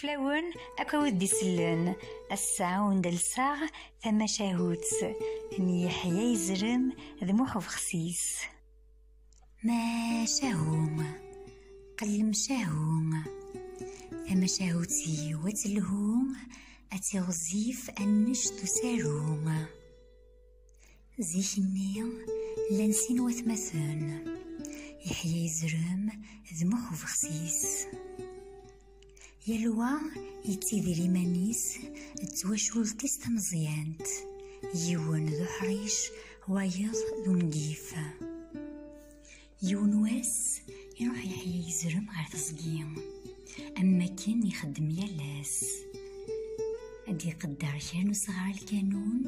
fell-awen ad k-awid-d-isellen ass-a ur ndalseɣ tamacahut n Yeḥya Yezrem d Muḥ Ubexsis. Macahu, qellem cahu, tamacahut s yiwet lhu, ad tiɣzif annect n usaru. Zik-nni, llan sin watmaten, Yeḥya Izrem d Muḥ Ubexsis. yal wa yettidir iman-is d twacult-is tameẓyant yiwen d uḥric wayeḍ d ungif yiwen wass iruḥ yeḥya yezrem ɣer teẓgi am akken ixeddem yal ass ad iqedder kra n usɣar lkanun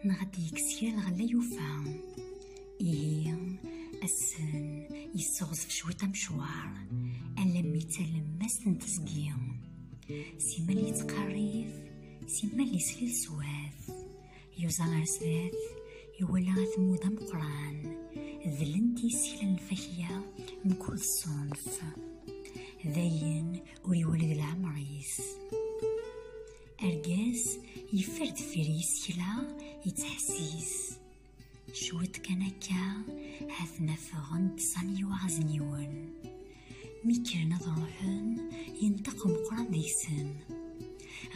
neɣ ad d-yekkes kra lɣella yufa ihi assen yesseɣzef cwiṭ amecwar alammi d talemmast n teẓgi simmal yettqerrif simmal yeslil swat yuẓa ɣer sdat iwala atmud ameqran dlent isekla n lfakya mkul ṣṣunf dayen ur iwuled leɛmer-is argaz yeffer deffir yisekla yettḥessis Cwiṭ kan akka, ha-ten afɣen-d sani waɣzen yiwen. Mi kkren ad ruḥen, yenṭeq umeqran deg-sen.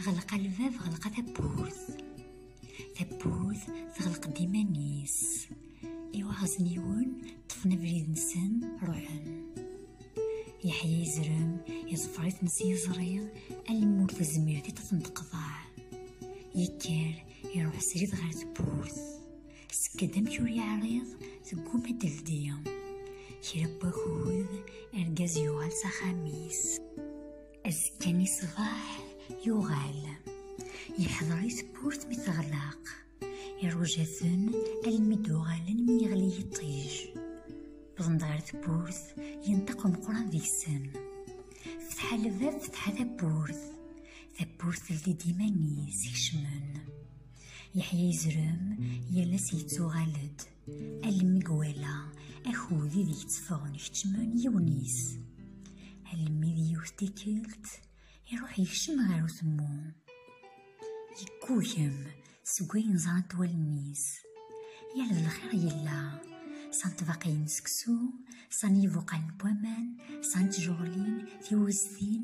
Ɣelqa lbab, ɣelqa tawwurt. Tawwurt teɣleq-d iman-is. Iwaɣzen yiwen, ṭṭfen abrid-nsen, ruḥen. Yeḥya izrem, yeẓfer-iten s yiẓri, almi ur tezmir tiṭ ad ten-teqḍeɛ. Yekker, Iruḥ srid ɣer tewwurt. Sekka-d amek ur yeɛriḍ, tegguma d-teldi. Kra n wakud, argaz yuɣal s axxam-is. Azekka-nni ṣṣbeḥ, yuɣal. Yeḥḍer i tewwurt mi teɣlaq. Iruja-ten almi d-uɣalen mi yeɣli yiṭij. Wwḍen-d ɣer tewwurt, yenṭeq umeqran deg-sen. Fetḥa lbab, fetḥa tawwurt. tawwurt teldi-d iman-is kecmen yeḥya yezrem yal ass yettuɣal-d almi gwala akud ideg tteffɣen kecmen yiwen-is almi d yiwet tikkelt iruḥ yekcem ɣer utemmu yeggugem seg wayen ẓrant wallen-is yal d lxir yella san tbaqayin seksu san yibuqal n waman san tjuɣlin tiweztin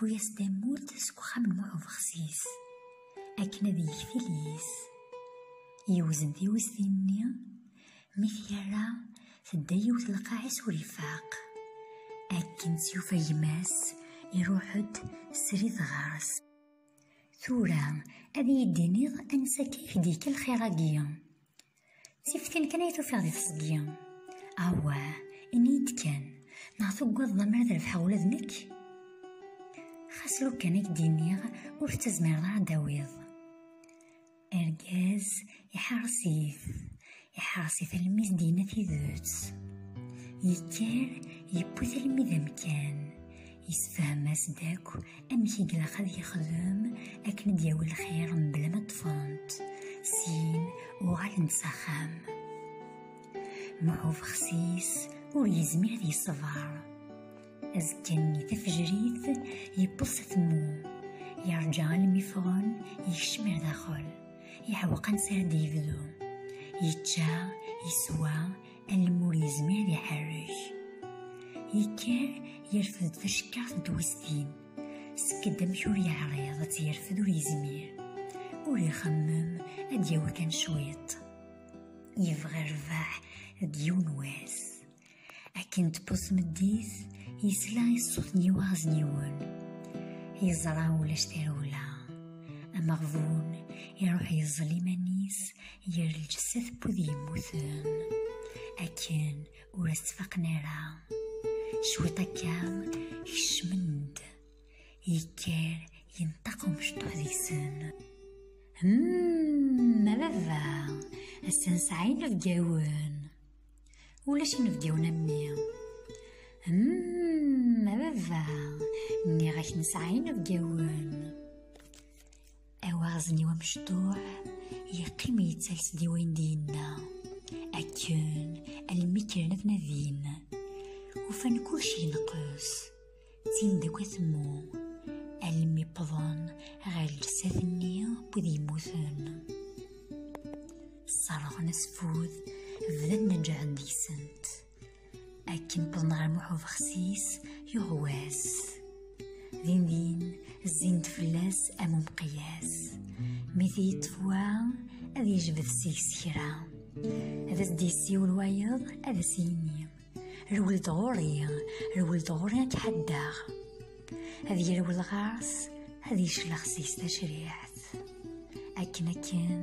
Tewwi-as tamurt seg uxxam n Muḥ Ubexsis akken ad yeg tiliyes. Yewzen tiwiztin-nni, mi t-yerra tedda yiwet lqaɛis ur ifaq. Akken tt-yufa gma-s, iruḥ-d srid ɣer-s. Tura ad iyi-d-tiniḍ ansa akka i k-d-yekka lxir-agi? Tiftin kan ay tufiɣ di teẓgi. Awah, ini-yi-d kan, neɣ tugadeḍ amar ad rebḥeɣ ula d nekk? Xas lukan i k-d-iniɣ, ur tettazmireḍ ara d-tawiḍ. Argaz iḥeṛṛes-it, iḥeṛṛes-it almi i d-yenna tidet. Yekker, yewwi-t almi d amkan. Yessefhem-as-d akk amek i ilaq ad yexdem akken ad yawi lxir mebla ma ṭṭfent, syin uɣalent s axxam. Muḥuf xsis ur yezmir ad yeṣber. Azekka-nni tafejrit yewweḍ s atemmu, yerǧa almi ffɣen yekcem ar daxel, iḥewqan s ara d-yebdu. Yečča, yeswa, Almur yezmer iḥerrek. Yekker yerfed-d tacekkaɣt n twestin. Skedd amek ur yeɛriḍ ad yerfed ur yezmir. Ur ixemmem ad yawi kan cwiṭ. Yebɣa rrbeḥ d yiwen wass. Akken tewweḍ tmeddit, yesla i ṣṣut n yiwaɣez n yiwen. Yeẓra ulac tarewla. Ameɣbun iruḥ yeẓẓel iman-is ger lǧessa tewwid yemmuten akken ur as-ttfaqen ara cwiṭ akka kecmen-d yekker yenṭaq umecṭuḥ deg-sen hmm, ma baba ass-a nesɛa inebgawen ulac inebgawen am mi hmm, ma baba nniɣ-ak nesɛa inebgawen awaɣzen-iw amecṭuḥ yeqqim yettales-d i wayen d-yenna akken almi kkren ad nadin ufan kulec yenqes tin d akk atemmu almi wwḍen ɣer lsat-nni wid yemmuten sserɣen asfud bdan neǧɛen deg-sent akken wwḍen ɣer Muḥ Ubexsis yuɣ wass din din zzin-d fell-as am umqiyas mi t-yeṭṭef wa ad yejbed seg-s kra ad as-d-yessiwel wayeḍ ad as-yini rwel-d ɣur-i rwel-d ɣur-i ad k-ḥaddaɣ ad yerwel ɣer-s ad yeclex seg-s tacriḥt akken akken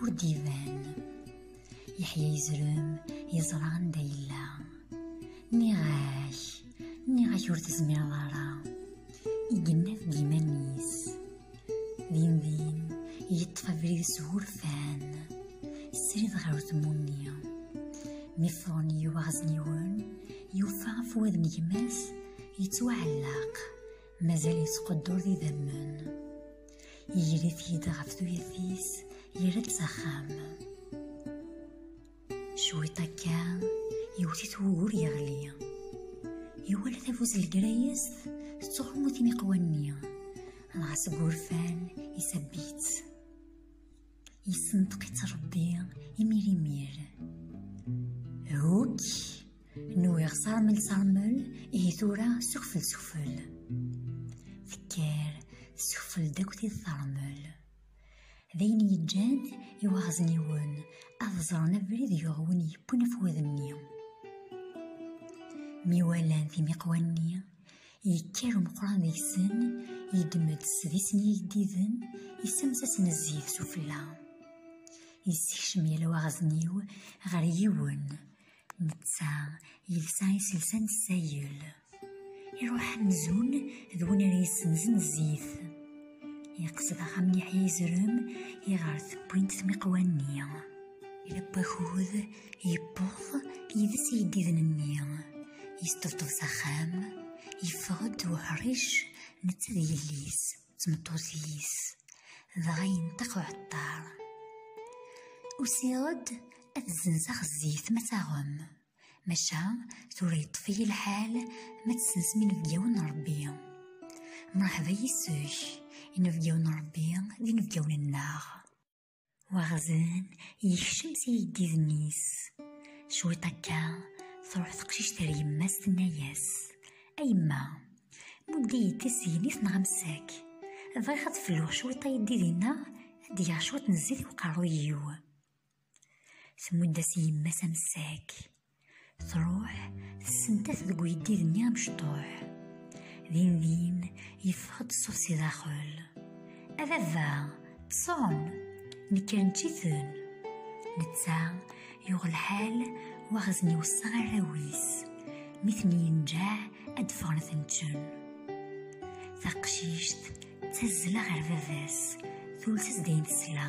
ur d-iban yeḥya yezrem yeẓra anda yella nniɣ-ak nniɣ-ak ur tezmireḍ ara i yennaf d iman-is din din yeṭṭef abrid s wurfan srid ɣer tmunni mi ffɣen yiwaɣezniwen yufa afwad n gma-s yettwaɛellaq mazal yettqeddur d idammen yegri-t-id ɣef tuyat-is yerra-d s axxam cwiṭ akka yewwet-it wugur yeɣli iwala tabuzelgrayest tettɣumu timiqwa-nni dɣa seg wurfan isabb-itt Yessenṭeq-itt Ṛebbi imir imir. Hukk, nwiɣ ṣarmel ṣarmel, ihi tura sufel sufel. Tekker tessufel-d akk tid teṛmel. D ayen yeǧǧan i waɣezniwen ad ẓren abrid yuɣ win yewwin afwad-nni. Mi walan timiqwa-nni, yekker umeqran deg-sen yeddem-d sdis n yigdiden yessamsasen zzit s ufella yessekcem yal waɣzen-iw ɣer yiwen netta yelsa iselsa n ssayel iruḥ amzun d win ara yessenzen zzit yeqsed axxam n yeḥya yezrem iɣer tewwint tmiqwa-nni ilewwi akud yewweḍ yid-s iyeddiden-nni Yesṭebṭeb s axxam, yeffeɣ-d uḥric netta d yelli-s d tmeṭṭut-is, dɣa yenṭeq uɛeṭṭar. Usiɣ-d ad zzenzeɣ zzit ma taɣem, maca tura yeṭṭef-iyi lḥal ma tsensem inebgawen n Rebbi. Mṛeḥba yis-k, inebgawen n Rebbi d inebgawen-nneɣ. Waɣzen yekcem s iyeddiden-is. Cwiṭ akka, truḥ teqcict ar yemma-s tenna-yas, A yemma, mudd-iyi-d tisegnit neɣ amsak. Bɣiɣ ad felluɣ cwiṭ ayeddid-inna, ad d-geɣ cwiṭ n zzit i uqerruy-iw. Tmudd-as yemma-s amsak. Tṛuḥ tessentat deg uyeddid-nni amecṭuḥ. Din din yeffeɣ-d ṣṣut si daxel. A baba, ṭṣen, nekk neččiten. Netta yuɣ lḥal waɣzen iweṣṣa arraw-is. Mi ten-yenǧeɛ ad ffɣen ad ten-ččen. Taqcict ttazzla ɣer baba-s, tules-as-d ayen tesla.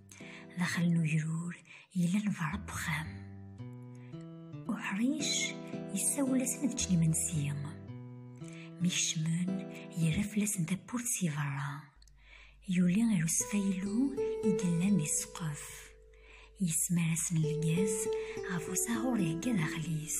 daxel n ugrur yellan beṛṛa uxxam. Uḥric yessawel-asen ad ččen imensi. Mi kecmen, yerra fell-asen tawwurt si beṛṛa. Yuli ar usfaylu i yellan di ssqef. Yesmar-asen lgaz ɣef usaɣur ihegga daxel-is.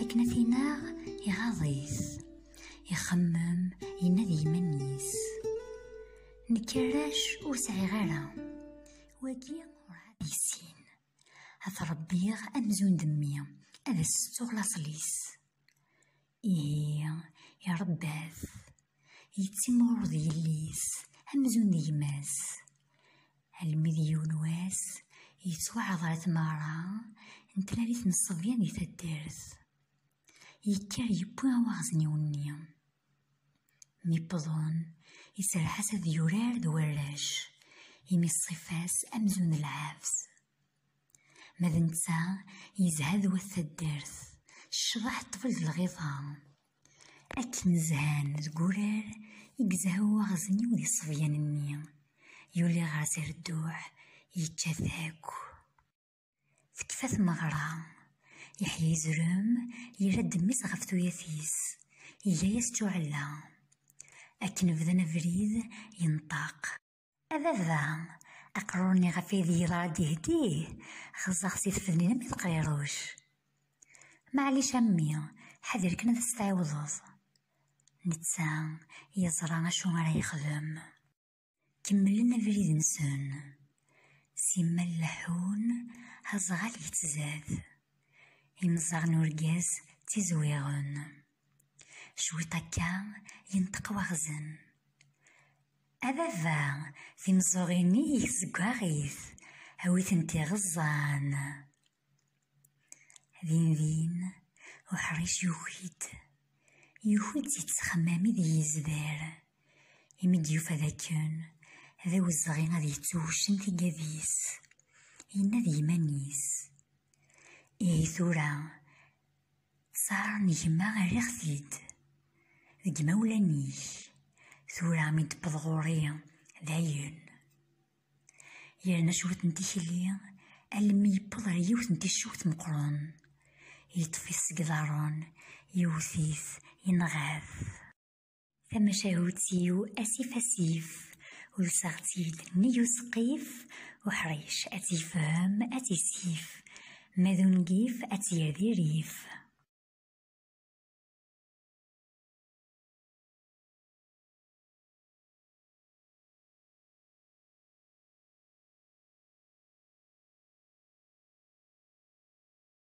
akken ad t-inaɣ iɣaḍ-it ixemmem yenna d yiman-is nekk arrac ur sɛiɣ ara wagi urɛad yessin ad t-ṛebbiɣ amzun d mmi ad as-settuɣ laṣel-is ihi iṛebba-t yettimɣuṛ d yelli-s amzun d gma-s almi d yiwen wass yettwaɛḍer tmeɣra n tlalit n ṣṣebyan di taddart yekker yewwi awaɣezniw-nni mi wwḍen iserreḥ-as ad yurar d warrac imi ṣṣifa-s amzun d lɛebs ma d netta yezha d wat taddart ccḍeḥ ṭṭbel d lɣiḍa Akken zhan deg urar i yezha uwaɣezniw di ṣṣebyan-nni, yuli ɣer Zerduɛ, yečča-t akk. Tekfa tmeɣra, Yeḥya izrem, yerra-d mmi-s ɣef tuyat-is, iga-yas ččuɛella. Akken bdan abrid, yenṭeq. A baba, aqrur-nni ɣef ay d yella ad d-yehdi, xeẓẓeɣ si tfednin am teqriruc. Maɛlic a mmi, ḥader kan ad as-tɛiwdeḍ. Netta yeẓra acu ara yexdem. Kemmlen abrid-nsen. Simmal leḥḥun, aẓɣal yettzad. Imẓaɣ n urgaz ttizwiɣen. Cwiṭ akka yenṭeq waɣzen. A baba, timeẓẓuɣin-ik seg waɣit, a wi tent-iɣeẓẓan. Dindin, uḥric yuki-d. Yuki-d si ttexmam i d yezder. Imi d-yufa d akken, d awezɣi ad yettuwcen tigad-is. Yenna d yiman-is. Ihi tura, Sara n gma rriɣ-t-id deg imawlan-ik, tura mi d-tewweḍ ɣur-i dayen. Yerna cwiṭ n tikli almi yewweḍ ɣer yiwet n ticcewt meqqren, yeṭṭef-it seg iḍarren, yewwet-it, yenɣa-t. Tamacahut-iw asif asif, ulseɣ-tt-id nnig useqqif, uḥric ad tt-yefhem ad tt-isif, ma d ungif ad tt-yerr di rrif.